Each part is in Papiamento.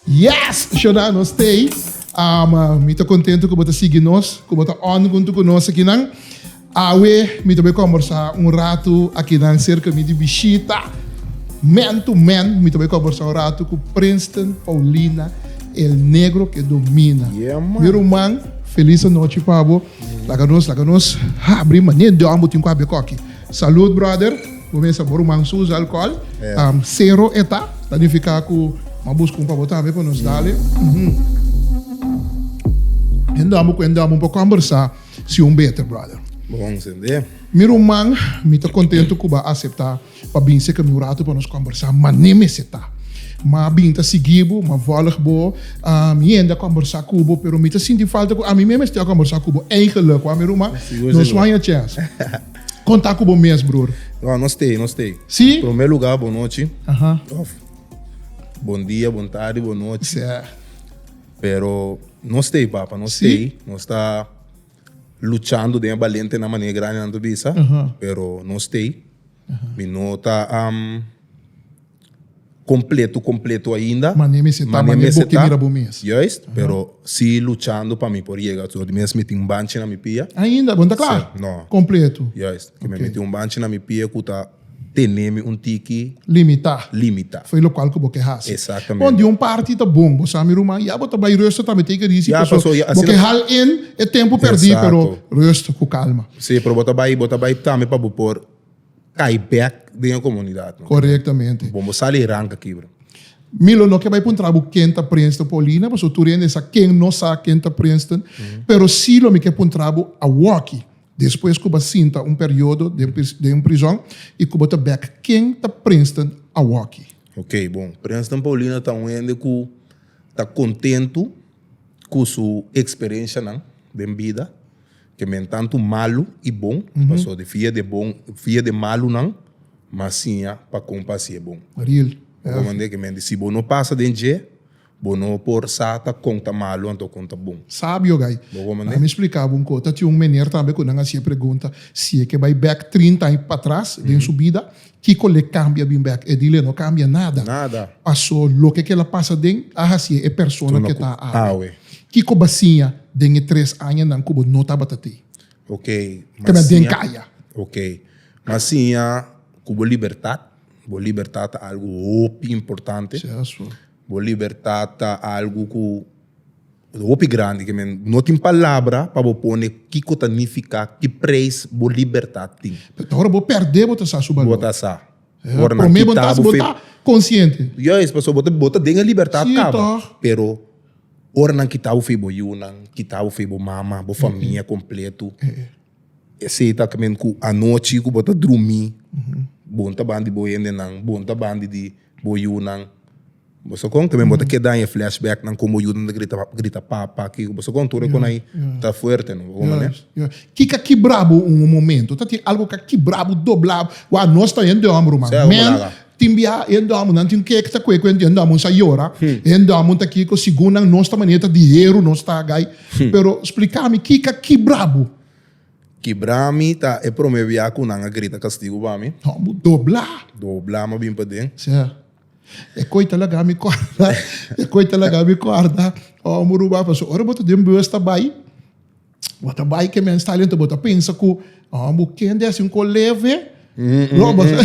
Yes Shona nos stay. Um, mi ta contento cu bo ta sigui nos, cu bo ta on junto cu nos akinan. Awe mi ta be conversa un rato akinan cerca mi di bishita man to man. Mi ta be conversa un rato cu Princeton Paulina El Negro que domina. Yeah man. Mi ruman, feliz anochi pa bo. Laga nos laga nos habri manera Dios ambo tin cu habia coki. Salud brother, bo mester bo ruman su usa alcohol, cero eta, ta nifica cu ma busca un pa bo tambe pa nos dale. Hende ambo cu hende ambo bo combersa si un beter brother. Mi ruman mi ta contento cu bo acepta. Pa bin seken mi un ratu pa nos kombersá, mané mester ta. Ma bin ta sigui bo, ma vòlg bo. Mi hende a kombersá ku bo, pero mi ta sinti falta ku ami mes mester a kombersá ku bo. Eigelik, wak mi ruma, nos waña chèns kon ta ku bo mes, bror. No, no stay, no stay. Sí? Promé lugá, bon nochi òf bon dia, bon tardi, bon nochi. Sí. Pero no stay, papa, no stay. Nos ta luchando den e balentenan mané grandenan ta bisa, pero no stay. Mi no ta completo completo ainda. Mane mi seta, mane mi seta. Mane bo ke mira bo mes. Juist, pero si luchando pa mi por yega tur. Di mes mi tin un banchi na mi pia. Ainda? Bo no ta kla? Si, no. Completo? Juist. Ke mi a miti un banchi na mi pia ku ta tene mi un tiki. Limita. Limita. Foi lokual ku bo ke hasi. Exactamente. Bon, di un parti ta bon. Bo sa mi ruman, ya bo ta bai rust, tambe teken risi. Ya, paso ya asina. Bo ke hal in e tempu perdi, pero rust ku kalma. Si pero bo ta bai bo ta bai tambe pa bo por cai back den e comunidad no. Correctamente. Bon bo sali rank aki bro. Mi lo no ke bai puntra bo ken ta Princeton Paulina paso tur hende sa ken no sa ken ta Princeton pero si lo mi ke puntra bo awoki despues ku bo sinta un periodo den un prizon y ku bo ta back ken ta Princeton awoki. Ok bon Princeton Paulina ta un hende ku ta contento ku su experiencianan den bida. ke men tantu malu i bon, pasobra di fia de bon, fia de malunan, m'a siña pa kon pa hasié bon. Real. Bo por manda ke men di, si bo no pasa den dje, bo no por sa ta kon ta malu anto kon ta bon. Sabio gai. Bo por manda. Ami spliká bo un kos. Ta tin un meneer tambe ku nan hasié pregunta si e ke bai bèk trinta aña patras den su bida, Kiko le cambia bin bek e dile no cambia nada Nada. paso loke kel a pasa den a hacie e persona Tuna ke ku ta awe. awe. Kiko ba siña den e tres añanan ku bo no tabata te? Ok, Te m'a mas den siña kaya. Ok, m'a siña ku bo libertat, bo libertat ta algu hopi importante. Seso. Bo libertat ta algu ku hopi grandi ke men no tin palabra pa bo pone kiko ta nifiká ki preis bo libertat tin. Pero ta ora bo pèrdè bo ta sa su balor. Bo ta sa. Ora nan Promé bo ta kita sa bo bo fe. ta konsiente. Juis, pasobra bo ta bo ta den e libertat Sí kaba, tòg. pero ora nan kita bo fe bo yunan, kita bo fe bo mama, bo famia kompletu, esei ta kimin ku anochi ku bo ta drumi, bon ta ban di bo hendenan, bon ta ban di di. Bo yunan. Bo sa con también bo ta keda aña flashback nan con bo yunan ta grita grita papa kiko bo sa con tur e con ai ta fuerte no bo con manera. Ya ya kika kibrabo un un momento ta tin algo ka kibrabo dobla wa nos ta hende hombro man Sea como men laga. tin bia hende hombro nan tin ke ta kue kue hende hombro nan sa yora hende hombro ta kiko segun nan nos ta manera ta di heru nos ta gai pero splica mi kika kibrabo. Kibra mi ta e prome bia ku nan a grita kastigu pa mi. No, bo dobla. Dobla mi a bin paden. Sea, e koi ta laga mi kòrda, e koi ta laga mi kòrda. Ora bo ruba, pasobra ora bo ta den bus ta bai, bo ta bai ke mens ta ali, bo ta pensa ku ora bo kende hasi un kos leve, lo bo ta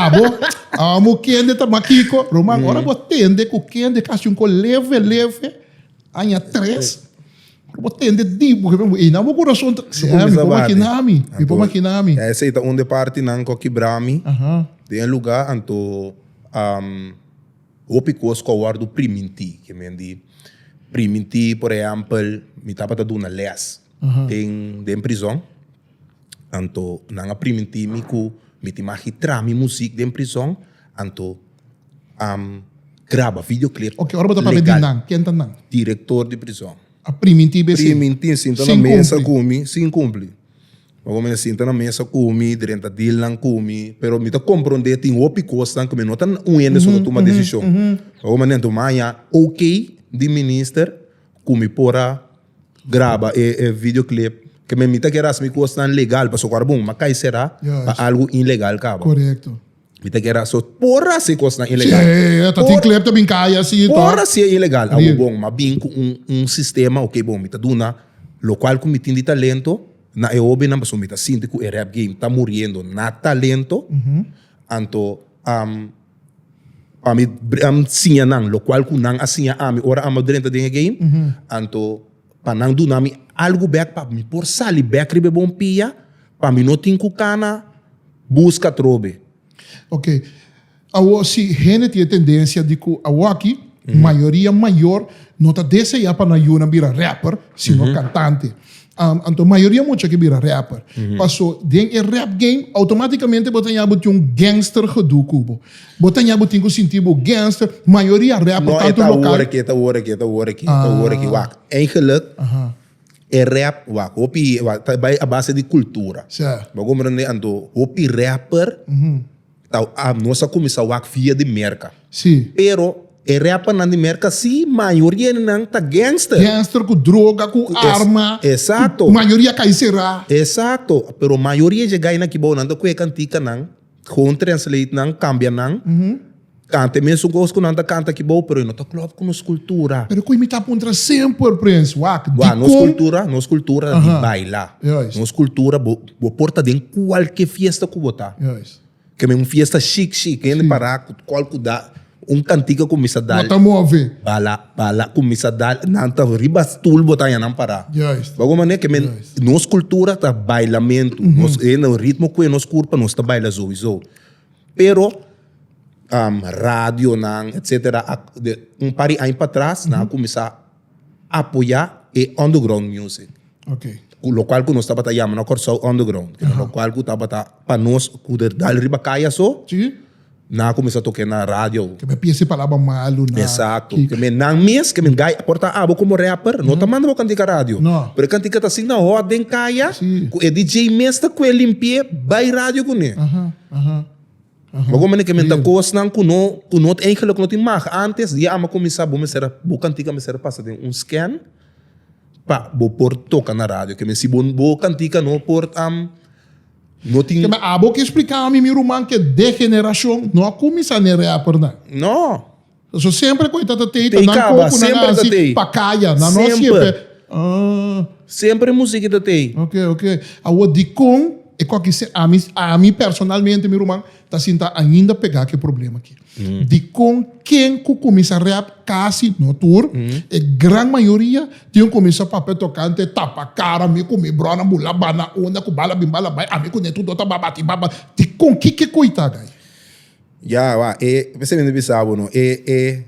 abo, ora bo kende ta makiko. Ruman, ora bo tende ku kende ka hasi un kos leve leve, aña tres. Lo bo tende diep bo hebe eina bo kurason ta si eh mi por makina mi mi por makina mi. Ya esei ta un de partinan ku a kibra mi den e luga anto hopi kos ku a wòrdu primintí ke men di primintí por ehèmpel mi tabata duna lès den prizòn anto nan a primintí mi ku mi tin maki traha mi musik den prizòn anto. um, graba videoclip. Ok, ora bo ta papia di nan, ken ta nan? Director di prison. A priminti be sin. Priminti sinta na mesa kumi, sin kumpli. Pa kome na sinta na mesa kumi, drenta deal nan kumi, pero mi ta kompronde tin hopi kosnan ke mi no ta un hende so ta tuma desishon. Pa kome anto mi a haña ok di minister ku mi por a graba e videoclip, ke mi ta kere hasi mi kosnan legal pasobra ora bo mi a kai será pa algu inlegal kaba. Mi ta kera so por a si kosnan ilegal. Che, ta tin Por- klep ta bin kaya si to. Por a si e ilegal, a Di- bo bon, ma bin ku un, un sistema, ok bon, mi ta duna lo kual ku mi tin di talento na e hobinan pasobra mi ta sinti ku e rap game ta muriendo na talento, anto am pa mi br- am siña nan lo kual ku nan a siña ami ora amba drenta den e game, anto pa nan duna mi algu bek pa mi por sali bek riba e bompia pa mi no tin ku kana buska atrobe. Ok, awor si hende tin e tendensia di ku awoki mayoria mayor no ta deseá pa nan yunan bira rapper sino kantante. Anto mayoria mucha ke bira rapper. Paso den e rap game outomatikamente bo ta ña bo tin un gangster gedu ku bo. Bo ta ña bo tin ku sinti bo gangster, mayoria rapper No, e tantu ta lokal. wor aki, e ta wor aki, e ta wor aki, e ta wor aki. Wak, eigenlijk, Aha. e rap, wak, hopi, wak, ta bai a base di kultura. Sè. Bo a komprende? Anto, hopi rapper ta, a, nos a kuminsá wak via di Merka. Si. Pero e rappernan di Merka si, mayoria di nan ta gangster. Gangster ku droga, ku Es- arma. exacto. Mayoria kai será. Exacto, pero mayoria dje gai nan ki bou nan ta kue kantika nan Gewoon translate nan, cambia nan. Canta e mesun cos cu nan ta canta aki bao, pero e no ta clop cu nos cultura. Pero cu mi ta puntra semper, Prince, wak, di con. Nos cultura, nos cultura ta di baila. Juist. Nos cultura, bo, bo por ta den cualkier fiesta cu bo ta. Juist. Ke men un fiesta chic, chic, hende para cu cual cu da. Un cantiga cu mi sa dal. Bo ta move. Bala, bala cu mi sa dal. Nan ta riba stoel bo ta haya nan para. Juist. Bo mane ke men Juist. nos cultura ta bailamento. Nos e no ritmo cu e nos curpa nos ta baila sowieso. Pero am, radionan etcetera a de un par di aña pa atras nan a cuminsa. apoyá e underground music. Okay. Cu, lo cual cu nos tabata yama no Corsou underground. Ajá. Lo cual cu tabata pa nos cu der dal riba caya so. Sí. Na comenzá toque na radio. Que me piensa palabra malo na. Exacto. Kik. Que me nan mes que me gai porta abo como rapper no ta manda bo cantica radio. No. Pero e cantica ta asina hot den caya. Sí. Cu e DJ mes ta cu e limpie bai radio cune. Ajá. Ajá. Bo komo ne ke men ta kosnan ku no ku no ta eigenlik no tin mag antes di e ama kuminsá bo mester a bo kantika a mester a pasa den un scan pa bo por toka na radio ke men si bo bo kantika no por am no tin Kema abo ke spliká mi mi ruman ke de generashon no a kuminsá ne rappernan. No. So semper cu e tata tey ta nan co cu nan a haci pa caya, nan no haci e pe. Ah. Semper e musiki ta tey. Ok, ok. Awo dicon e cu aki ser? Ami, ami personalmente mi ruman ta sinta ainda pega cu e problema aki. Dicon ken cu cuminsa rap, casi, no tur, e gran mayoria tin un cuminsa papia tocante tapa cara mi cu mi bronan bula ba na unda cu bala bin bala bay, ami cu Netudo ta ba bati ba ba. Dicon? Kiko y ta aga ayi? Ya, wak, e, p'esei mi ta bisa bo no, e, e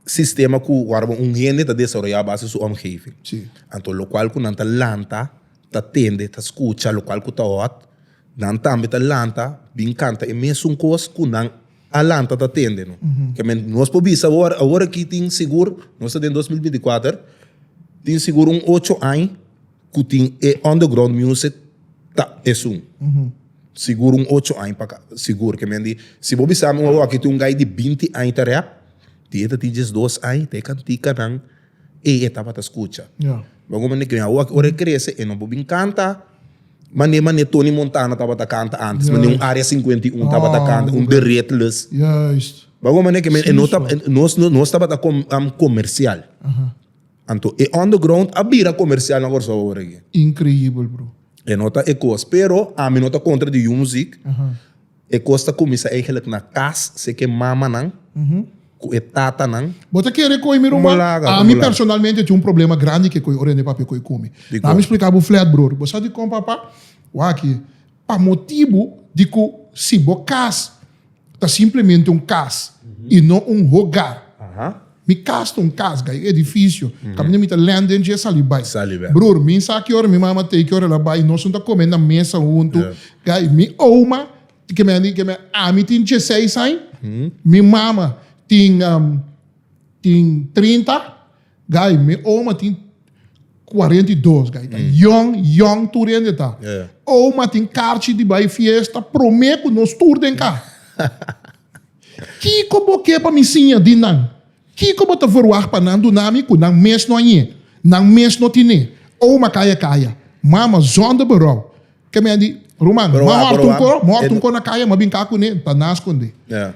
sistema ku ora bo un hende ta desaroyá base su òmgeving. Sí. Anto lokual ku nan ta lanta, ta tende, ta skucha lokual ku ta hòt, nan tambe ta lanta bin kanta e mesun kos ku nan a lanta ta tende no. Ke men, nos por bisa bo awor, awor aki tin sigur, nos ta den dos mil binti kuater, tin sigur un ocho aña, ku tin e underground music ta esun sigur un ocho aña pa ka'a sigur ke men di si bo bisa mi ora wak tin un guy di binti aña ta rap tin e ta tin diesdos aña ta e kantikanan ey e tabata skucha bo komo neke men awor ora e krese e no por bin kanta mane mane Tony Montana tabata kanta antes mane un area cincuenta y uno tabata kanta un the redless bo komo neke men nos tabata comercial. Anto e underground a bira comercial na Corsou awor aki. Increíbel bro. E no ta e cos. Pero ami no ta contra di yu muziek. E cos ta cuminsa eigenlijk na cas seke e mamanan cu e tatanan. Bo ta kere coe mi rumba? Como laga? Ami Como laga? personalmente tin un problema grandi ke coe orende papia coe cu mi. Di Lami co? explica bo flat bror. Bo sa dicon papa? Wak aki. Pa motibu di cu si bo cas. ta simplemente un cas y no un hogar. Mi cas ta un cas, ga e edificio. Caminda mi ta lende en dje sali bay. Broer, mi sa ki ora mi mama ta e ki ora el a bay y nos no ta come na mesa hunto. Ga e mi oma, ke me a ke me a, ami tin djeseis aña, mi mama tin tin trinta. Guy, mi oma tin 42, guy, ta young, young tur hende ta. Yeah. Oma tin karchi di bai fiesta, promé ku nos tur den ka. Kiko bo ke pa mi siña di nan? Kiko bo ta verwagt pa nan duna mi ku nan mes no a ñe, nan mes no tin'é? Oma kaya kaya. Mama, zonder berou. Ke mi a di, Ruman, Berou a, ma hòrtu un berou a. ko, ma hòrtu un ko na kaya, ma bin ka kuné, ta na skondé. Yeah.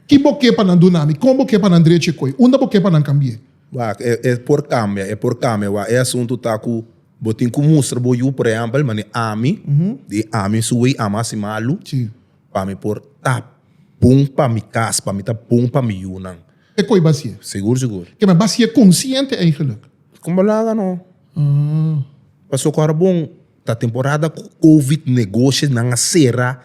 Ki bo ke pa nan duna mi? Kon bo ke pa nan drechi e koi? Unda bo ke pa nan kambi'é? Wak, e, e por kambia, e por kambia. Wak, e asuntu ta ku bo tin ku mustra bo yu, por ehèmpel, manera ami, di ami su wei ama hasi malu, Sí. pa mi por ta bon pa mi kas, pa mi ta bon pa mi yunan. E koi b'hasi e? Sigur, sigur. Kema, b'hasi e konsiente eigelik? Kon bo laga no? Pasobra ku ora bon ta temporada ku Covid, negoshonan a sera.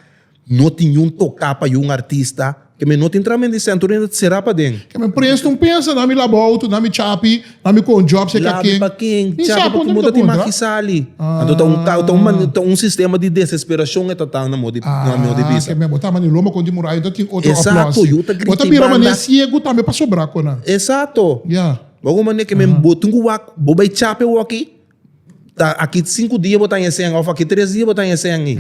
No tin niun toká pa yu un artista. Kemey no tin tramen di Sento Rino ta será paden. Kemey presta un pensa na mi laba outo, na mi chapi, na mi kon job seka Labi ken. pa ken? Mi sa Chapi pa konta mi kimo ta ta tin konta. maki sali? Anto ta un ka ta un mane ta un sistema di desesperashon e ta ta na modi na mi odi bisa. Kemey bo ta mane loma kon di murai ta tin otro Esatto, aplòsi. yu ta Bo grita ta i bira mane banda. siegu tambe pa sobrá konan. Esatto. Ya. Bo a guma mane kemey bo tin ku wak bo bai chapi woki ta aki sinku dia bo ta na e sèn of aki tres dia bo ta na e sèn i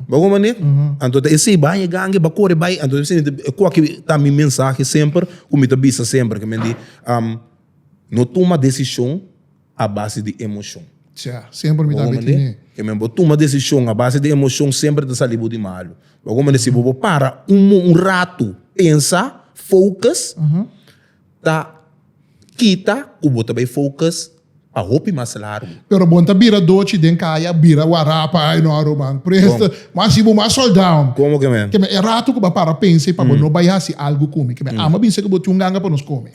bo hopi manera anto ta esei bai e gangue ba kore bai anto esei e ku aki ta mi mensahe semper ku mi ta bisa semper ke men di no tuma desishon a base di emoshon bo tuma desishon a base di emoshon semper ta sali bo di malu bo hopi manera si bo para un rato pensa focus. ta kita ku bo ta bai focus pa hopi mas largu. Pero bon ta bira doci den caya bira wara pa ai no a ruman por esto mas si bo mas soldao Como que men? keme e rato cu bo a para pensa y pa bo no bai haci algo cu mi keme ama bin sa cu bo tin un ganga pa nos come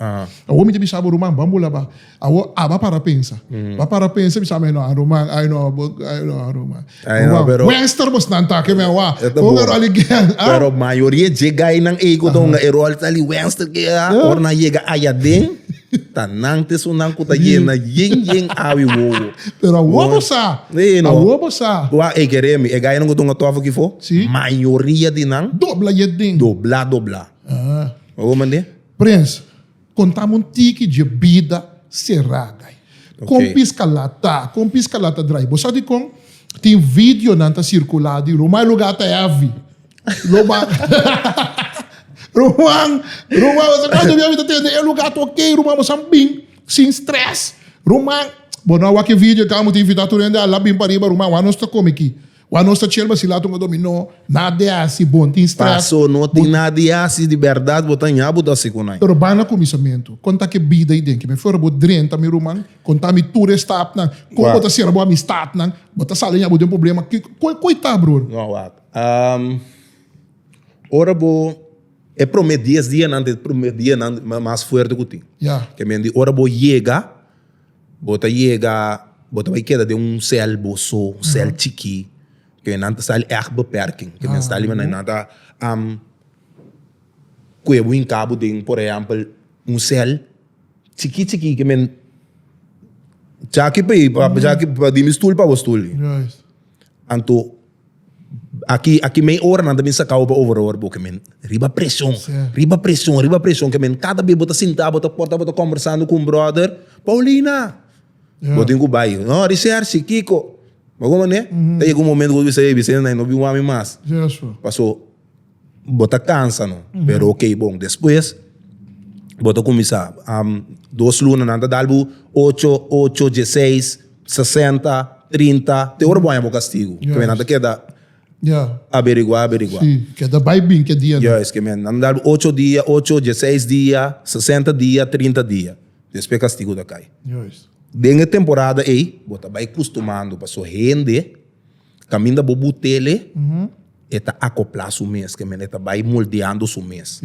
awo mi ta bisa bo ruman ban bo la ba Awor a ba para pensa. Ba para pensa bisa mi no Aruman, ay no ay no Aruman. Ay no, pero Wester bos nan ta ke mi awa. Ponga rol again. Pero mayoria e dje gainan ey ku ta hunga e rol ta li Wester ke a ora nan yega aya den ta nan te su nan ku ta yena yen yen awi wowo. Pero awor bo sa. Ey no. Awor bo sa. Wa ey ke remi e gainan ku ta hunga tofel ki fo. Si. Mayoria di nan. Dobla yet den. Dobla dobla. Bo mende? Prens. Contame un tiki dje bida serada ai. Con pisca la ta, con pisca la ta drai. Bo sa dicon? Tin videonan ta circula di Roman lugar ta heavy. Roman, Roman, Roman bo sa cuanto bia mi ta tende e lugar ta ok, Roman bo sa bin sin stress. Roman, bo no a wak e video, tin amutin invita tur hende a la bin pariba, Roman, wak nos ta come aki? Wak nos ta chelba si laat un a domi no nada di hasi bon tin stress. Paso no tin nada di hasi di berdad bo ta ña bo ta si kunai. Pero ban na kuminsamentu kon ta ke bida i den ke mi for bo drenta mi ruman kon ta mi tur e stapnan kon bo ta sera bo amistatnan bo ta sali ña bo den problema ko i ta bror. No wak ora bo e prome dies dianan ta e prome dianan mas fuerte ku tin ke men di ora bo yega. Bo ta yega, bo ta bai keda den un sèl bo so, un sèl chikí, ku nan ta sta li ègt bepèrking, ku nan sta li manera nan ta kue bo hinka bo den por ehèmpel un sèl chikí chikí ku men djaki pa mi pa mi stul pa bo stul anto. Aki aki mei ora nan ta bin sakau pa overhoor bo ke men riba presion riba presion riba presion ke men kada bes bo ta sinta bo ta por ta bo ta kombersando ku un brother Paulina bo tin ku bai no Rishershi Kiko bo komo ne ta yega un momento ku bo ta bisa ey Vicente na i no bin wak mi mas paso. bo ta kansa no pero ok bon despues bo ta kuminsá dos luna nan ta dal bo ocho ocho dieseis sesenta trinta te ora bo haña bo kastigu keme nan ta keda averigua averigua keda bai bin ke dia nan yes keme nan ta dal bo ocho dia ocho dieseis dia sesenta dia trinta dia despues kastigu ta kai den e temporada ey bo ta bai kustumando pasobra hende. Caminda bo butele e ta acopla su mes ke men e ta bay moldeando su mes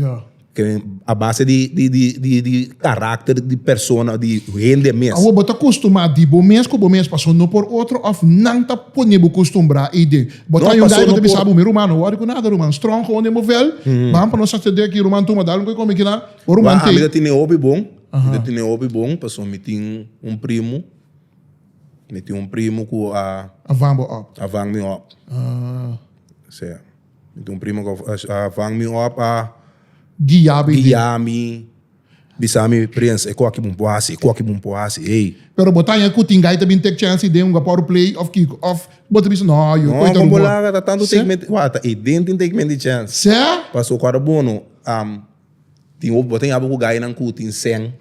a base di caracter di persona di hende mes. Awor bo ta costuma di bo mes cu bo mes paso no por otro of nan ta pone bo costumbra y den bo ta yunda y bo ta bisa bo mes ruman no worry cu nada ruman strong con den bo vel ban pa nos sa tende aki ruman tuma dal un coe come kina bo ruman tey. Ami ta tine hopi bon mi ta tine hopi bon paso mi tin un primo. Mi tin un primo cu a. A vang bo op. A vang mi op. Ah. Sí. Mi tin un primo cu a vang mi op, a. Guia mi. Guia mi. Bisa mi, Prins, e coki bo por haci, e coki bo por haci, ey. Pero bo tanja cu tin guy ta bin take chance den un gua pa wor play of kico? Of bo ta bisa, no, yo coge ta rumor. No, con bo laga ta tanto take mente, wak, ta ey den tin take mente chance. Sí? Pasobra bo no, am, tin hopi, bo ta yama cu guynan cu tin seng.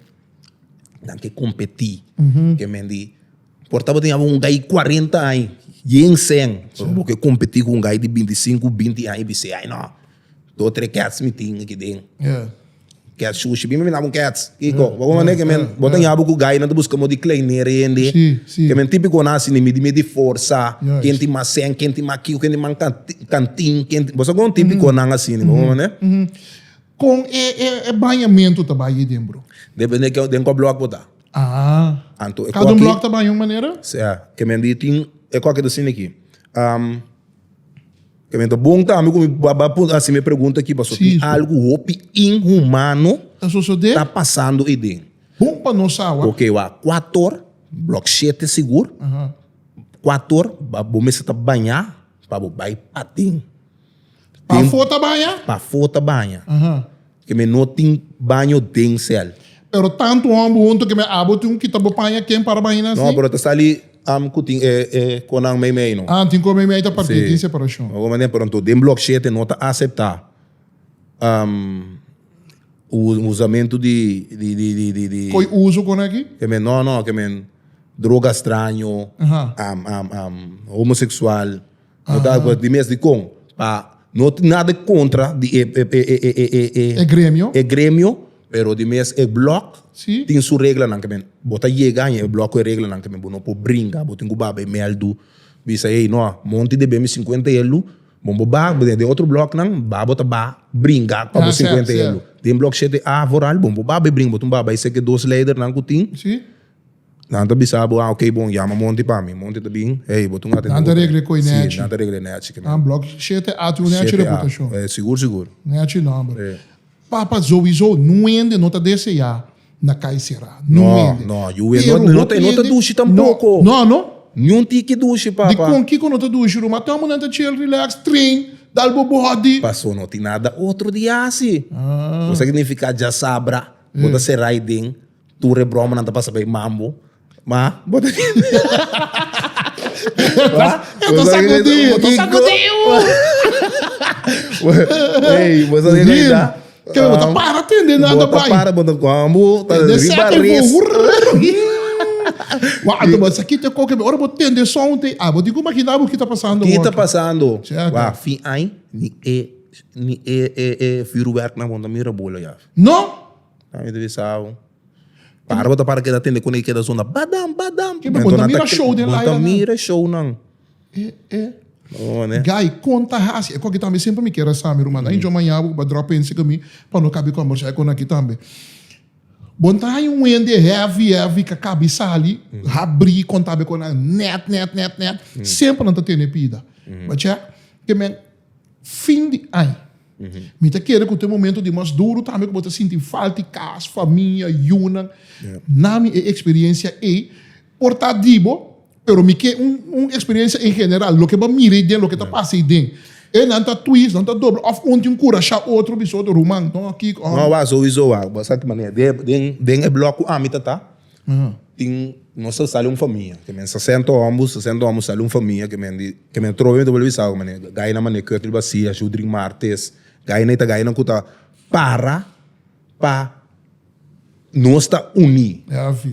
nan ke kompetí ke men di por tabata tin abo un gai di kuarenta aña yen sen pero bo ke kompetí ku un gai di binti sinku binti aña bisei aña nò dos tres kèts mi tin aki den kèts shushi mi mi na bo un kèts kiko bo ta manda ke men bo ta yama ku gainan ta buska mo di kleinera hende ke men tipikonan asina mi di mi di forsa ken tin mas sen ken tin mas kiko ken tin mas kantin bo sa kon tipikonan asina bo ta manda. Con e e e bañamento ta bay den bro? Depende ke den cu block bo ta. Ah. Anto e Cada un block ta baña un manera? Sea, ke men di tin e coke ta sinda aki. Um, ke men ta bon tambe cu mi ba ba pun haci mi pregunta aki paso tin algo hopi inhumano Ta sosode? ta pasando ey den. Bon pa nos sa awa. Oke wak, cua tor, block shete sigur, Aha. cua tor ba bo mester ta baña pa bo bay patin. Pafó ta baña? Pafó ta baña. Ke mi no tin baño den sèl. Pero tantu hòmber huntu ke mi abo tin ku kita bo paña ken para baña nan si? No, pero ta sali am ku tin e e konan meimei no. Ah, tin kon meimei ta partí tin separashon. Si. Oman den pronto den blòk shete no ta aseptá usamentu di di. Koi uso kon aki? Ke men no no ke men droga straño, homoseksual. No ta acuerdo di mes di con. Pa no tin nada e contra di e e gremio. e gremio, pero di mes e block Si. tin su reglanan kimen. Bo ta yega aña e block cu e reglanan kimen. Bo no por brinca. Bo tin cu bay bay meldu. Bisa, hey no, monti debe mi cincuenta eldu. Bon bo ba den den otro blocknan, ba bo ta ba bringa pa bo cincuenta eldu. Den block shete A vooral, bon bo ba bay brinca. Bo tin ba bay seki dos leidernan cu tin. Si. Nan ta bisa bo, ah ok bon, yama Monty pa mi. Monty ta bin, hey, bo ta un atende Nan ta operé. regla koe Sí, nèchi. nan ta regla e nèchi ke Nan blòk shete e ati un nèchi Shete a, reputashon. eh, sigur, sigur. Nèchi nòmber. Eh. Pa pa zouzou nu wende no ta deseá na kai será. Nu No, wende. no, yu wende. Pero No, no hopi ta, no ta hende dushi tampoko. No, no, no. Ni un tiki dushi, papa. Di kon kiko no ta dushi Ruma? Ata munan ta chill, relax, train, dal bo body. Paso no tin nada otro di hasi. Ah. Bo sa ke signifiká djasabra. Bo ta será ayi den. Tur e bromanan ta pasa bay mambo. Ma, bo ta kende. Bo ta sakudi, bo ta sakudi. Ey, bo sa kende ta. Ke bo ta para tende nada bay. Bo ta para, bo ta kwambo, ta riba res. Wa anto bo sa kite koke bay. Ora bo tende sound ey, abo tin ku makina abo kita pasando. Kita pasando. Wa fin ai, ni e, ni e, e, e firuwerknan bo ta mira bolo ya. No! Nan mi ta bisa abo. Para bo ta para keda tende kuné keda zona badam badam. Kiko bo ta mira show den Laila nan? Bo ta mira show nan. E e. One. Guy kon ta hasi e koki tambe semper mi kier a sa mi ruman. Ain chon maña bo ku ba drop pensi ku mi pa no kabi kombersá e konaki tambe. Bon ta haña un hende heavy heavy ka kabi sali habri konta be konan nèt nèt nèt nèt semper nan ta tene pida. Ba chè ke men. fin di añ. Mi ta kere ku te momentu di mas duru tambe ku bo ta sinti falta di kas, famia, yunan. Na mi e eksperiensia ei por ta di bo, pero mi ke un un eksperiensia en general, loke bo a mira ei den, loke ta pasa ei den. E nan ta twist, nan ta dobla òf un tin kurashá otro bisou otro ruman. Nò, kiko. Nò, wak, souwisou wak. Bo sa ki manera den den e blòk ku ami ta ta. tin nos ta sali un famia ke men sesenta homber sesenta homber sali un famia ke men di ke men trobe mi ta bole bisa bo mane gainan mane Curtly Basilia Shudrick Martes gainan i ta gainan ku ta para pa nos ta uni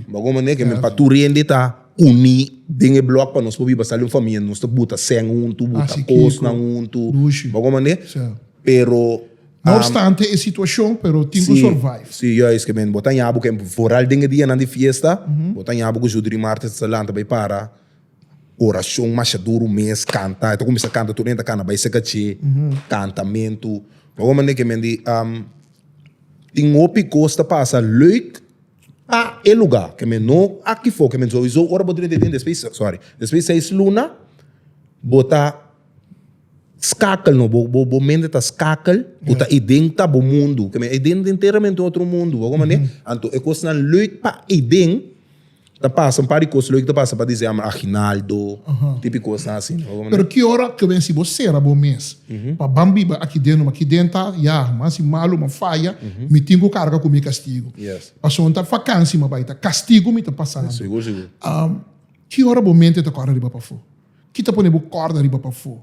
bo kon mane ke men pa tur hende ta uni den e blòk pa nos por biba sali un famia nos ta buta sèn huntu buta kosnan huntu bo kon mane pero. No obstante e situacion pero tin cu survive. Si juistamente bo ta yabu cu foral den e dianan di fiesta bo ta yabu cu su dream artist ta lanta bay para oracion masha duru mes canta e ta cuminsa canta tur e ta cana bay se cache cantamentu pa un manera cu men di tin hopi cos ta pasa leuk pa e lugar cu men no aki for cu men sowieso ora bo drenta den despues sorry despues seis luna bo ta. Skakel no bo bo bo mente ta skakel bo ta e den ta bo mundu ke men e den enteramente un otro mundu bo hoor mane anto e kosnan leuk pa e den ta pasa un par di kos leuk ta pasa pa dise ama aguinaldo tipo di kosnan asi bo hoor mane. Pero ki ora ke men si bo sera bo mes pa ban biba aki den aki den ta ya mas si malu mas faya mi tin ku karga ku mi kastigu pasobra no ta vakansi mi a bai ta kastigu mi ta pasa ki ora bo mente ta kore riba pafo. Ki ta pone bo kòrda riba pafó?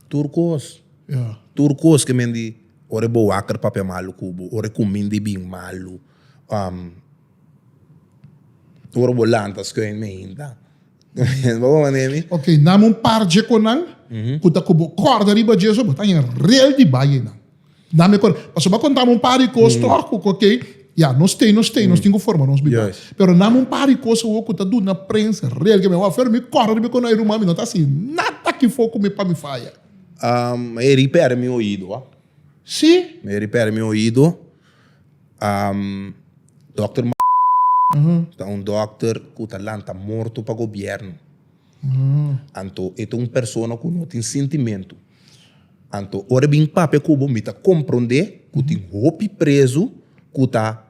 Tur kos. Ya. Tur kos ke men di ora e bo waker papia malu ku bo, ora e kuminda e bin malu, ora bo lanta skuin meinta. Bo por mane mi? Ok, nami un par dje konan ku ta ku bo kòrda riba dje so, bo ta haña rel di baye nan. Dame cor. Pasobra cu contame un par di cos troco, ok, ya, nos t'e, nos t'e, nos tin cu forma nos bida. Yes. Pero name un par di cos awor cu ta duna prensa real ke mi a wak afuera, mi corre riba cu no e ruman mi no ta haci nada aki for cu mi pa mi faya. Um, e ripera mi oido, ah. Si? E ripera mi oido. Um, dokter Ma, ta un dokter cu ta lanta morto pa gobierno. Anto e ta un persona cu no tin sintimento. Anto ora bin papia ku bo mi ta komprondé ku tin hopi prezu ku ta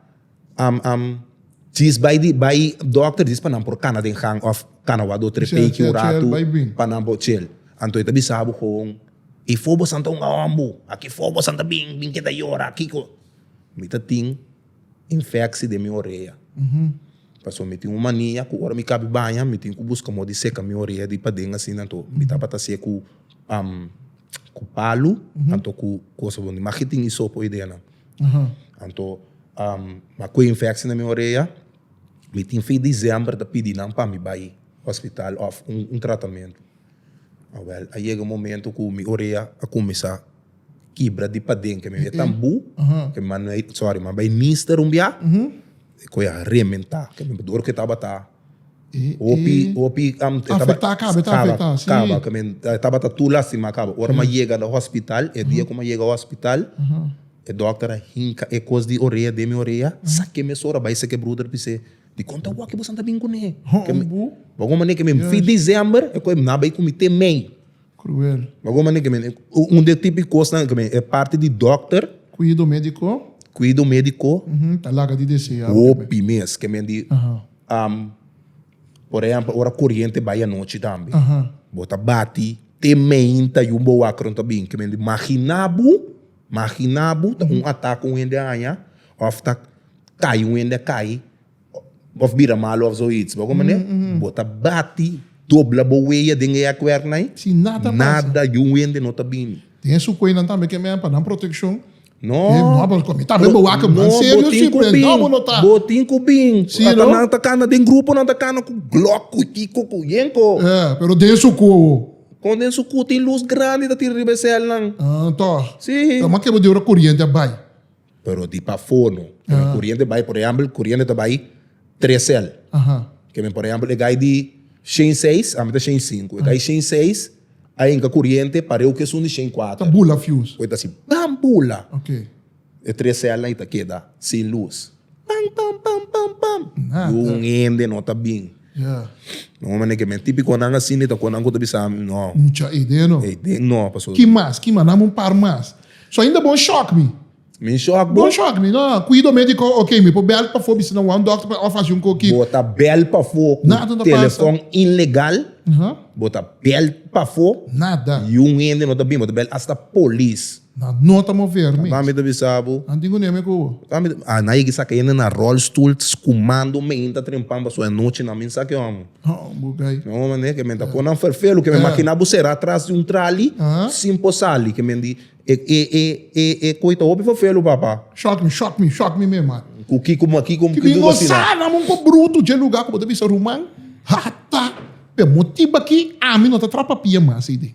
djis bai di bai dòkter djis pa nan por kana den gang òf kana wak dòkter peiki un ratu pa nan por chel. Anto e ta bisa bo kon, E fobosan ta un awòmbu, aki fobosan ta bin, bin keda yora, kiko. Mi ta tin. Infeksi den mi orea. Paso mi tin un mania ku ora mi kabi baña mi tin ku buska modi seka mi orea di paden asina anto mi tabata hasia ku ku palu anto ku kosa bon di maki tin isopo ei dena anto mi a kue infeksi na mi orea mi tin fin december ta pidi nan pa mi bai hospital òf un tratamentu a wel a yega momento ku mi orea a kuminsá. kibra di paden ke mi be tan bu ke mi manda ei sorry manda ei mista rumbiá e koe a rementá ke mi dor ke tabata hopi hopi Afektá kaba e ta afektá si kaba ke mi e tabata tur lastimá kaba ora mi a yega na hospital e dia ku mi a yega hospital e dòkter a hinka e kos di orea den mi orea sak'é mi sora bai sek e bruder bis'é dikon ta wak ke boso a ta bin kuné bo kon manera ke mi fi December e koe na bai ku mi te May. Cruel. Lo bo mane kemen un de tipi kosnan kemen e parti di dokter. Kuido mediko. Kuido mediko. Ta laga di deseá. Hopi mes kemen di por ehempel ora koriente bai anochi tambe bo ta bati te meinta yu bo wak ora bo ta bin kemen di magina bo magina bo ta un atak un hende a haña of ta kai un hende a kai. Of bira malu of zoiets bo komo ne, bo ta bati, dobla bo weya den e akuerna ei, nada di un wende no ta bini. Tin e su kuenan tambe ke men pa nan protekshon, mi tambe bo wak man serio si, pero no bo no ta. Bo tin ku bin, ata nan ta kana den grupo nan ta kana ku glòk, ku tiko, ku yenko. Pero den su ku. Kon den su ku tin lus grandi ta tira riba e sèlnan. Tò, kòman ke bo di ora kuriente a bai? Pero di pafó no. Cu e coriente bay, por ehempel, coriente ta bay tres cel. Ke men, por ehempel, e gai di shen y seis, ami ta shen y cinco. E gai shen y seis, a hinca coriente pareu cu esun di shen y cuater. Ta bula fuse. Cu ta haci bam! Bula. E tres celnan y ta keda sin luz. Pam! Pam! Pam! Pam! Pam! Y un hende no ta bin. Don Omar Neke men tipikonan asina ta konan ku ta bisa mi no. Mucha idea no. Idea no paso. Ki mas ki mas dame un par mas. So ainda bon shock mi. Mi shock bo. Bon shock mi no cuido me di ko ok mi por bel pafo bisa nan wou un doctor pa of hasi un ko ki. Bo ta bel pafo ku telefon ilegal bo ta bel pafo y un hende no ta bin bo ta bel asta polis. Nan no ta mover mi. Tabata mi ta bisa bo. Nan tin kuné mi ku bo. Tabata mi ta bisa bo. Nan yega saka hende na rolstoel skumando mei ta trempan paso e anochi nan mi sa ke amo. Bo gai. No manera ke men ta pon nan ferfelu ke men makina bo sera tras di un trali sin por sali ke men di e koi ta hopi ferfelu papa. Shock mi shock mi shock mi mi man. Ku kiko ma kiko mi dor asina. Ki bin gozan amo un po bruto dje luga ku bo ta bisa ruman hata pe motibu aki ami no ta trapapia mas ei dei.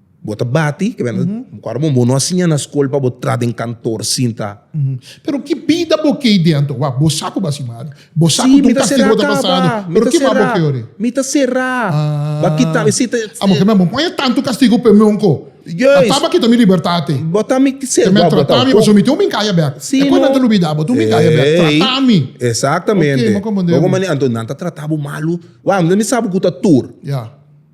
Bo ta bati, ke benda kor bo no a siña na skol pa bo tra den kantor sin ta. Pero ki bida bo ke ei dentro? Wak, bo sa ku bo a si mari. Bo sa ku ta un kastigu bo ta pasando. Pero ke mas bo ke ori? Mi ta sera. Ba kita mi. Amo ke mi amo poña tantu kastigu p'e mon ko a taba kita mi libertat ei. Bo ta mi sera. Ke mi a trata mi pasobra mi tin un minkaya bèk. E kos nan ta lubida. Bo tin un minkaya bèk. Trata mi. Exactamente. Ok, mi a comprende bo. Bo ku manera anto nan ta trata bo malu. Wak, mi sa bo ku ta tur. Ya.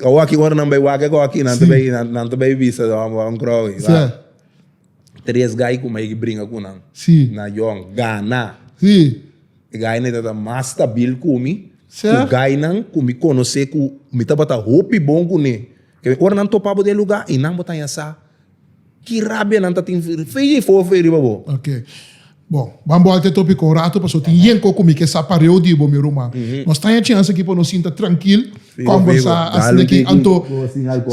Awor aki ora nan bay wak e goki nan ta bay si nan ta bay bisa un crow y wak si tres guy cu mai ki bringa cu nan si na yon gana si e guy nan e ta ta mas stabil cu mi si cu guy nan cu mi conoce cu mi tabata hopi bon cu ne ora nan topabo den lugar y nan bo ta yasa Ki rabianan ta tin feia i foofee riba bo? Ok. Bo, ban bolta e topiko un ratu paso tin yen ko kumi ke sa pareo di bo mi ruman. Nos ta haña chens aki pa nos sinta trankil, kombersa asina aki anto.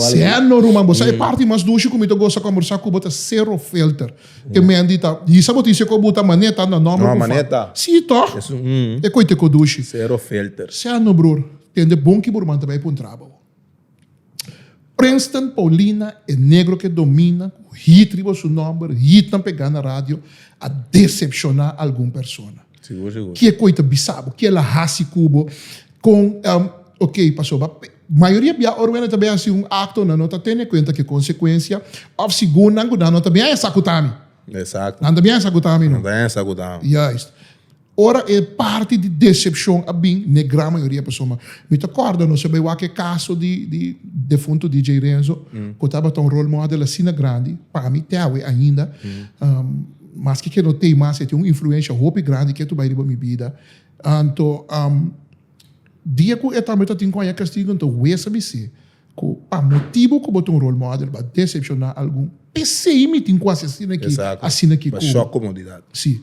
Seno ruman, bo sa e parti mas dushi ku mi ta gosa kombersa ku bo ta sero filter. E men di ta hisa bo tin se ko bu ta mané ta na nòmber ku fa. Sí tò? E koiteko dushi. Sero filter. Seno bror, tende bon ki bo ruman ta bai puntra bo. Princeton Paulina e negro ke domina ku hit riba su nòmber, hitnan p'e gana radio, a desepshoná algun persona. Sigur, sigur. Ke koi ta bisa bo? Ke el a hasi ku bo? Kon, em, ok, pasobra pe- mayoria bia ora wende ta bin hasi un akto, nan no ta tene kuenta ku e konsekuensia, òf si gun nan ku nan no ta bin a esakutá mi. Eksakto. Nan ta bin a esakutá mi, no? Nan ta bin a esakutá mi. Juist. Ora e parti di decepcion a bin, n'e gran mayoria persona. Mi ta corda nos a bai wak e caso di defunto DJ Renzo, cu tabata un role model asina grandi, pa mi te awe ainda, maske ke no t'ey mas, e tin un influencia hopi grandi ke tu bai riba mi bida. Anto, dia cu e tambe ta tin Coaña Castigo, nta wesa mi si, Cu pa motibo cu bo ta un role model bo a decepciona algun. P'esey mi tin cu haci asina aki, asina ki. Exacto. Bo shock comodidad. Si.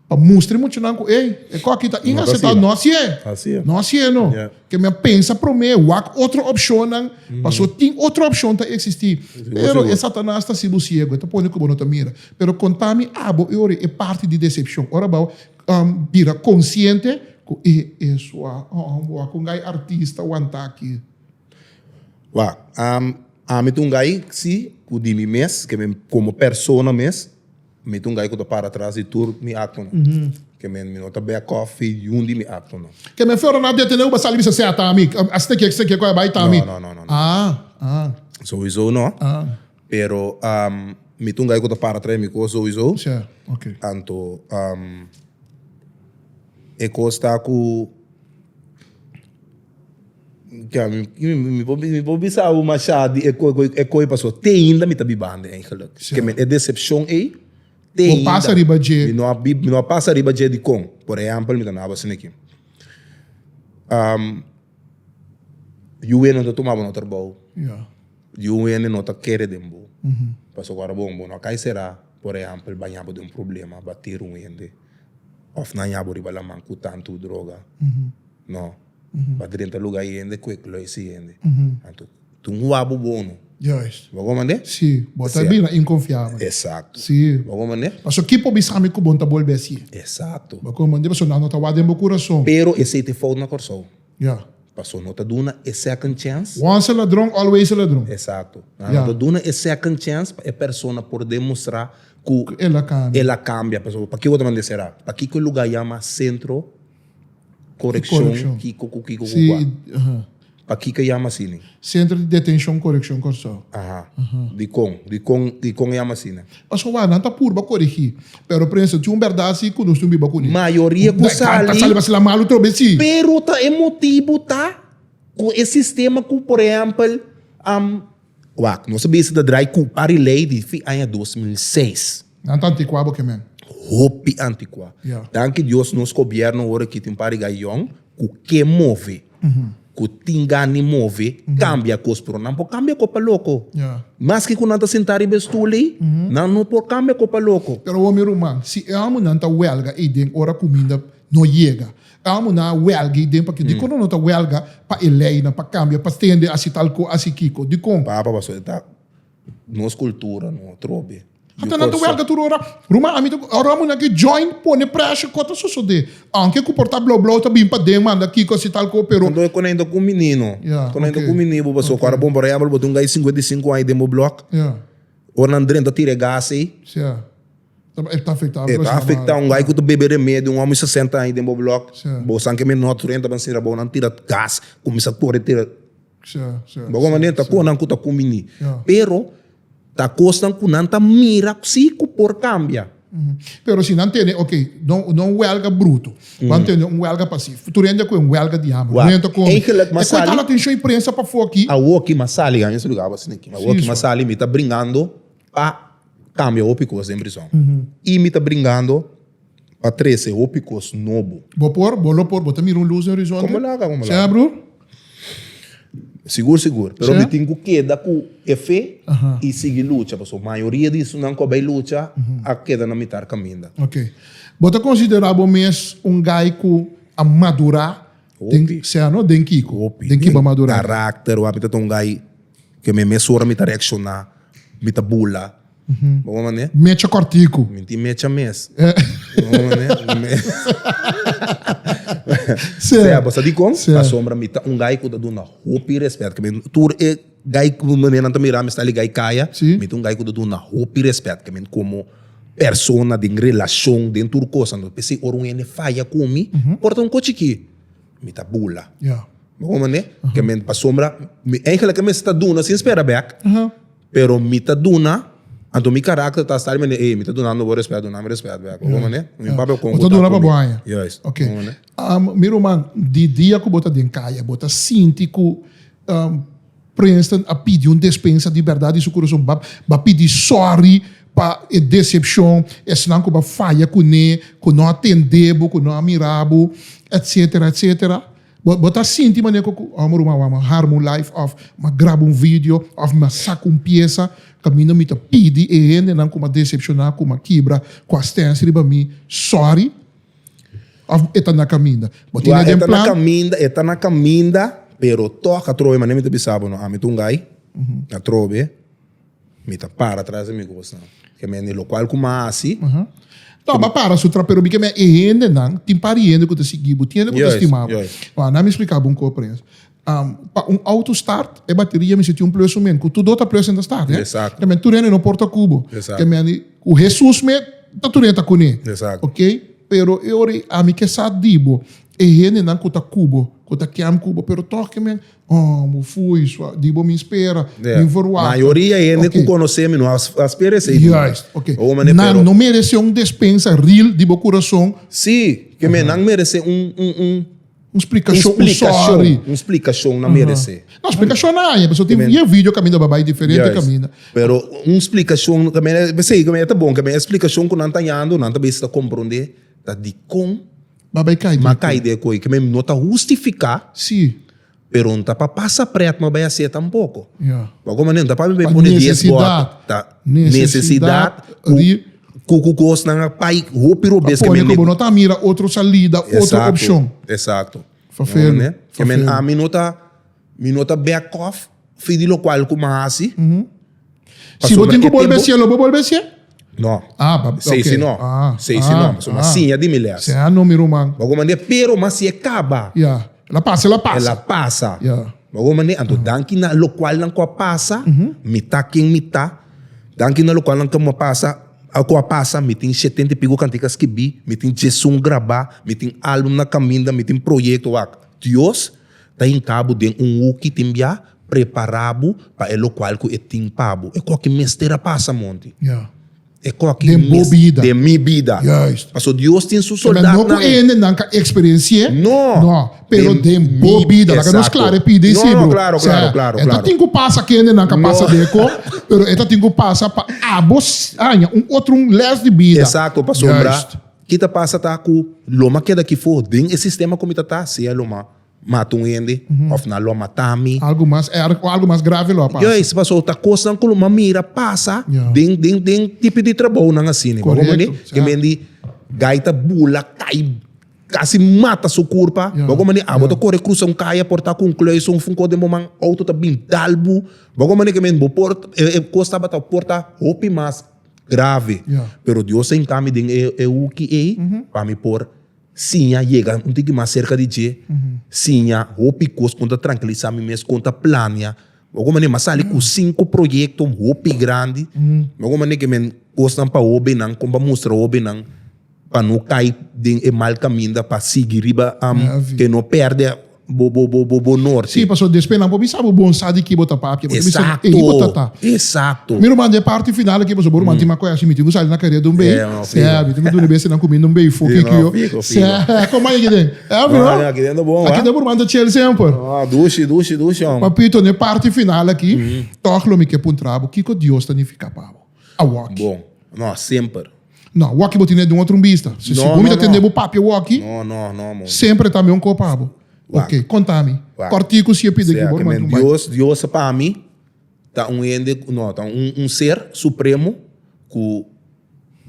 Pa mustra e muchanan cu, ey, e cor aki ta inaceptabel. No asina. No así e. No así e no. Yeah. Ke mi a pensa prome, wak otro opcionnan, paso tin otro opcion ta existi. Pero e Satanas ta haci bo ciego, e ta pone cu bo no ta mira. Pero conta mi abo e ora e parti di decepcion, ora bo a bira consciente cu, ey, e sua, bo a con gai artista wanta aki. Wak, ami ta un guy si ku di mi mes ke men komo persona mes mi ta un guy ku ta para atras di tur mi aktonan ke men mi no ta back off di ninhun di mi aktonan. Ke men Florida no a detene ku bo a sali bisa seta ami a steki a steki a bai ta mi. No no no souiso no pero mi ta un guy ku ta para atras di mi kos souiso anto e kos ta ku. Ya, mi mi por mi por bisa awo masha di e koe koe e koe paso te ainda mi ta bibando eigenlijk ke men e decepcion ei te ainda. Bo pasa riba dje. Mi no a bib mi no a pasa riba dje dikon por ehempel mi ta na bas niki di un wende no ta tuma bo no trabou di un wende no ta kere den bo pasobra bo bo no a kai sera por ehempel baña bo den un problema bater un wende Of nan ya bo riba laman cu tantu droga. No. Pa drenta luga y hende kwek lo ese hende. Anto, tin un wabo bono. Juist. Bo goma nde? Si. Bo ta bira inconfiabel. Exacto. Si. Bo goma nde? Paso ki por bisa mi cu bon ta bolbe así? Exacto. Bo goma nde? Paso nan no ta wak den bo curason. Pero esey ta fout na Corsou. Ya. Paso no ta duna e second chance. Once a ladron always a ladron. Exacto. Nan no ta duna e second chance pa e persona por demustra cu el a cambia. El a cambia. Pasobra paki bo ta manda e cera? Pakico e lugar yama Centro Correccion Kico cu kico cu cu a? Pakico e yama asina? Centro di Detencion Correccion Corsou. Aha. Dikon? Dikon dikon e yama asina? Pasobra wak nan ta purba korigí. Pero prensa, tin un bèrdat así ku nos tin biba kuné. Mayoria ku sali. Ta sali basela malu trobé sí. Pero ta e motibu ta ku e sistema ku por ehèmpel wak nos a bisa ta drai ku ari lei di fin aña dos mil seis. Nan ta antikuá bo ke men. Hopi antikuá. Ya. Danki Dios nos gobièrnu ora aki tin un par di gaion. ku ke move, ku tin gan di move, kambia kos, pero nan por kambia kos pa loko. Maske ku nan ta sentá riba e stul ei, nan no por kambia kos pa loko. Pero homi ruman, si e hominan ta wèlga ei den ora kuminda no yega, e hominan a wèlga ei den pakier dikon nan no ta wèlga pa e leinan, pa kambia, pa stende, hasi tal ko, hasi kiko? Dikon? Papa, Pastor, e ta. Nos cultura no a trobe. Yo Hasta nan ta huelga tur ora. Ruma, ami ta cu- ora munan ke join pone pressure ko ta sosode. Aunke ku por ta blo blo ta bin paden manda kiko asi tal ko pero Entonces, cuando hay un menino, Ya, cuando hay ok. un menino, bo pasó, Ok. cuando bon, por ejemplo, bo tiene un guy 55 años dentro del block, ya o nan drenta tira gas ahí, ya ta e ta afecta eh, ta afecta un guy que te bebe remedio, un hombre 60 años dentro del block, Sí. bo san que me not drenta, pero si bo nan tira gas, comienza a correr, tira Bo komo anto ta konan ku ta kuminí. Pero ta kosnan ku nan ta mira si ku por kambia. Pero si nan tene, ok, no un welga bruto, nan tene un welga pasif. Tur hende ku e un welga di hamber, no hende ta komi. E ku ta hal atenshon e prensa pafó aki. Awo aki mas sali, a mester luga a bas tin aki. Awo aki mas sali, mi ta bringando. a cambia hopi cos den prison y mi ta bringando pa trece hopi cos nobo. Bo por? Bo lo por? Bo ta mira un luz den horizonte? Como laga? Como laga? Sea broer? Sigur sigur, pero mi tin cu keda cu e fe y sigui lucha pasobra mayoria di esunnan cu a bay lucha a keda na mitar caminda. Ok. Bo ta considera bo mes un guy cu a madura? Den, Hopi. sea no den kiko, Hopi. den ki ba madura. Karakter wak mi ta tongay ke mi mes ora mi ta reakshoná, mi ta bula. Bo bo manera? Mecha kòrtiku. Mi tin mecha mes. Bo bo manera? Sea bo sa dikon? Pasobra mi ta un guy ku ta duna hopi rèspèt, ke mi tur e. Gai ku manera nan ta mira mi sta liga i kaya, mi ta un gai ku ta duna hopi rèspèt ta mi komo persona den relashon den tur kos. Anto p'esei ora un hende faya ku mi por ta un kochi ki mi ta bula mi komprende? Kèmen pasobra mi èiglike mi sta duna sin spera bèk pero mi ta duna anto mi karakter ta sa di manera ey mi ta dunando bo rèspèt duna mi rèspèt bèk bo ta duna pa bon anja. Mi ruman, di dia ku bo ta den kaya, bo ta sinti ku Princeton a pidi un despensa di bèrdat di su kurason, bo a pidi sòri pa e desepshon, esnan ku bo a faya kuné, ku no a tendé bo, ku no a mira bo, etsetera, etsetera. Bo ta sinti manera ku, oh mi ruman, wak mi a harma un live òf mi a graba un video òf mi a saka un piesa, ka mi no mi ta pidi e hendenan ku mi a desepshoná, ku mi a kibra, ku a stens riba mi, sòri? Of e ta na kaminda? Bo tin e den plan? Ya, e ta na kaminda, e ta na kaminda, pero tòg a trobe, manera mi ta bisa bo no, ami ta un gai, a trobe, mi ta para tras di mi kosnan. Ke mende lokual ku mi a hasi. No, bo a para su tras, pero mi ke mende e hendenan, tin par di hende ku ta sigui bo, tin hende ku ta stima bo. Juist, juist. Bo, a nan mi splika bo un kos, Prince. Pa un auto start e bateria misti tin un plus sumen ku tur do ta plus en ta start ne. Exacto. Tur hende no por ta ku bo. Exacto. Ku Hesus me ta tur hende ta kune. Exacto. Ok, pero e ora ami ke sa di bo e hendenan ku ta ku bo, ku ta ken ku bo pero tokey men oh bo fui suav di bo mi spera, mi verwachta. Mayoria e hende ku konosé mi no a spera esei di mi. Juist, ok. Nan no meresé un despensa ril di bo kurason. Si, ke men nan meresé un. Un splikashon, un sòri. Un splikashon nan meresé. No, splikashon nan haya, pasobra tin dies video kaminda ba bai diferente kaminda. Juis. Pero un splikashon kaminda, p'esei kaminda e ta bon, kaminda e splikashon ku nan ta hando, nan ta bisa ta komprondé ta dikon Ba bai kai den e koi. m'a kai den e koi, kaminda no ta hustifiká, Sí. pero no ta pa pasa prèt m'a bai has'é tampoko. Ya. Bo a komprendé? No ta pa mi bai pone dies bòt. Necesidad. Ta, necesidad, ku. Cu cu cosnan a pai hopi robes Pa que pone men cu bo no ta mira otro salida, otro Exacto, opcion. exacto. Fa Bo felu, ende? fa Ke men felu. ami no ta mi no ta back off fi di locual cu mi a haci. Si bo Pasobra tin cu e bolbe tempo- hacielo, bo bolbe hacié? No. Ah, pa- Sei ok. si no. Ah, Sei si ah, no. Pasobra ah. siña di mi les. Sea no mi ruman. Bo comprende? Pero mi a haci e caba. Ya. La pasa, la E pasa. la pasa. Ya. Ogo mane, anto danki na lokual nan ku a pasa, mi ta ken mi ta, danki na lokual nan ku a pasa, ku a pasa, mi tin shetenta i piku kantika skibí, mi tin diesun grabá, mi tin álbum na kaminda, mi tin proyekto wak. Dios ta hinka bo den un huki tin bia prepará bo pa e lokual ku e tin pa bo, e ku aki mester a pasa monti. Den bo bida. Den mi bida. Juist. Paso Dios tin su soldatnan. Esnan no ku hende nan ka eksperensi'é. No. No. Pero den bo bida. Laga nos klar e pida i si, bro. Klaro, klaro, klaro. E ta tin ku pasa ku hende nan ka pasa deko, pero e ta tin ku pasa pa abo haña un otro un lès di bida. Esakto, pasobra ki ta pasa ta ku lo ma keda aki for den e sistema ku mi ta ta, sea lo ma. mata un hende of nan lo mata mi. Algo mas erg o algo mas grave lo a pasa. Juis paso ta cosnan cu lo mi a mira pasa den den den tipo di trabounan asina. Y bo a mandi e mende guy ta bula cay casi mata su curpa. Bo a mandi abo ta core crusa un caya por ta cu un kluis of un cos den bo man auto ta bin dal bo. Bo a mandi e por e cos tabata por ta hopi mas grave. Pero Dios ta hinca mi den e hoeky ey pa mi por. Siña yega un tiki mas serka di dje, siña hopi kos ku N ta trankiliza mi mes ku N ta planea. Bo a kon manera mi a sali ku sinku proyektonan hopi grandi. Bo a kon manera ku men kosnan pa hobennan kon pa mustra hobennan pa no kai den e mal kaminda, pa sigui riba, e no pèrdè. bo bo bo bo bo norte. Sí, pasobra despues nan por bisa bo bon sa di ki bo ta papia, bo ta bisa Exacto, ehi bo ta ta. exacto. Mi ruman, den parti final aki, pasobra bo ruman tin makoe ashi, mi tin ku sali na carriera di un bay, Yeah, man, fiho. eh, mi tin ku duna bese nan ku mi na un bay foki Fiho, kiyo, fiho, fiho. seh, kon man yeki den, eh, No, bro, aki den ta bon, aki wa. den bo ruman ta chel semper. No, dushi, dushi, dushi, hombre. Papito, den parti final aki, tog lo mi ke puntra bo, kiko Dios ta nifica pa bo? a wòki. Bon. No, semper. No, wòki bo tene den otro un bista. Si bo mira tende bo papi a wòki, semper e ta mihó nkopo pa bo. Ok, konta mi. Kòrtiku si e pidi aki bo lo manda un bai. Dios, Diosa pa mi ta un hende, no, ta un ser supremo ku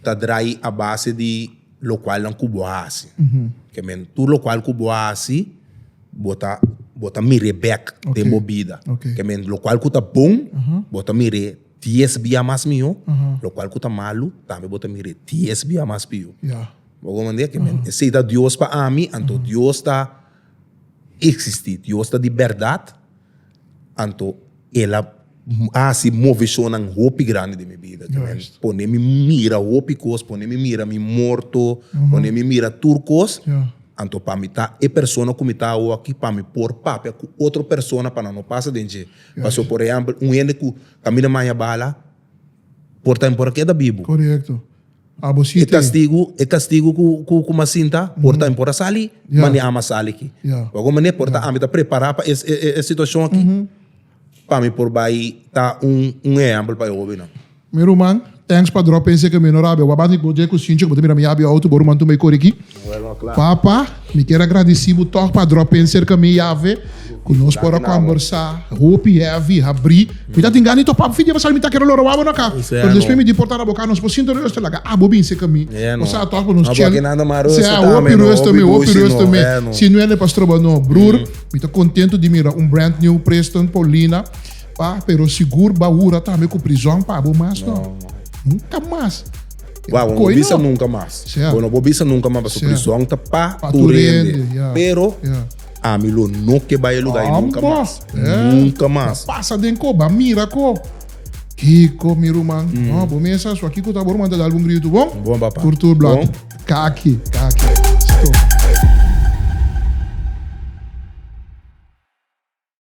ta drai a base di lokualnan ku bo hasi. Ke men, tur lokual ku bo hasi, bo ta, bo ta mir'é bèk den bo bida. Ke men, lokual ku ta bon, bo ta mir'é. Dies bia mas mihó, lokual ku ta malu, tambe bo ta mira e dies bia mas pió. Bo komprende? Ke men, si ta Dios pa ami, anto Dios ta eksistí, Dios ta di bèrdat, anto El a hasi moveshonnan hopi grandi den mi bida, ke men pone mi mira hopi kos, pone mi mira mi morto, pone mi mira tur kos, anto pa mi ta e persona ku mi ta awoa akí, pa mi por papia ku otro persona pa nan no pasa den dje. Paso por ehempel un hende cu caminda maña bala por ta impor ke ta bibu. Correcto. Abo si tin. E castigo, e castigo cu cu mas sinta por ta impor a sali, ma ni ama sali aki. Bo algun manera por ta ami ta prepara pa e situacion aki pa mi por bay ta un ehempel pa e hobennan. Mi ruman, thanks pa drop pensé que mi no rabia. Wap banda bo dje cu sinchi cu bo ta mira mi yabia auto, bo ruman tumba y cori aki. Papa, mi kier a gradici bo tog pa drop penser ca mi yave cu nos por a combersa hopi heavy y habri. Mi ta tin gana di topabo fin di episode, mi ta kier a lo robabo no aca, pero despues mi di por ta na bo ca, nos por sinto reus ta laga, ah, bo binse ca mi, bo sa tog cu nos chel, sea hopi reus tambe, hopi reus tambe, si no e na pa stroba no. Broer, mi ta contento di mira un brand new Preston, Paulina. Pa, pero sigur ba hura tambe ku prizòn pa bo mas no. Nunka mas. Wow, no bisa nunka mas. Bo no por bisa nunka mas pasobra prizòn ta pa tur hende. Pero ami lo no ke bai e lugá ei nunka mas. Nunka mas. Bo pasa den ko, ba mira ko. Kiko mi ruman. No, bo mesa so aki ku ta bo ruman ta dal bo un gritu bon. Bon papa. Tur tur blòt. Ka aki, ka aki. Stop.